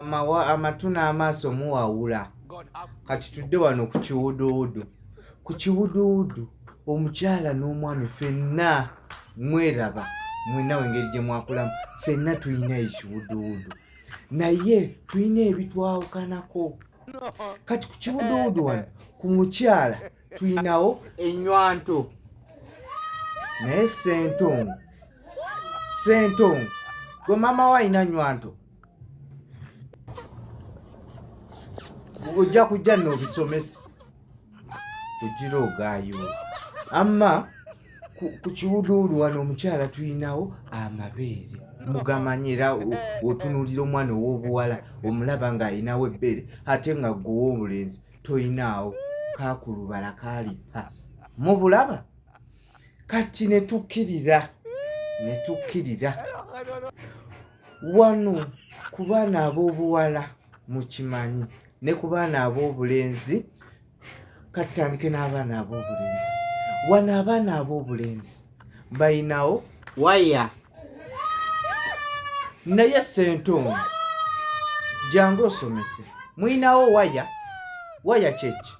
amatu n'amaaso muwawula kati tudde wano ku kiwuduwudu ku kiwuduwudu omukyala n'omwami fenna mweraba mwenawe engeri gye mwakulamu fenna tulina ekiwuduwudu naye tulina ebitwawukanako kati ku kiwuduwudu wano ku mukyala tulinawo enywanto naye sentongo sentongo gwe maama wo alina nywanto ojja kujja n'obisomesa ogira ogaayo amma ku kiwuduulu wano omukyala tulinawo amabeere mugamanya era otunulira omwana ow'obuwala omulaba ng'alinawo ebbeere ate nga gwowa obulenzi tolinaawo kakulubala kalippa mubulaba kati ne tukkirira ne tukkirira wano ku baana ab'obuwala mukimanyi ne ku baana ab'obulenzi katutandike n'abaana ab'obulenzi wano abaana ab'obulenzi bayinawo waya naye sentongo jangu osomese muyinawo waya waya kyeki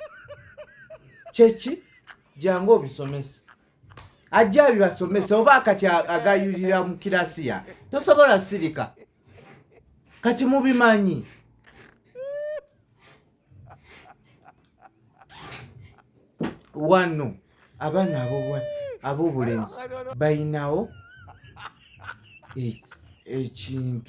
kyeki jangu obisomese ajja abibasomese oba akati agayulira mu kirasiya tosobola sirika kati mubimanyi wano abaana abobulenzi balinawo ekintu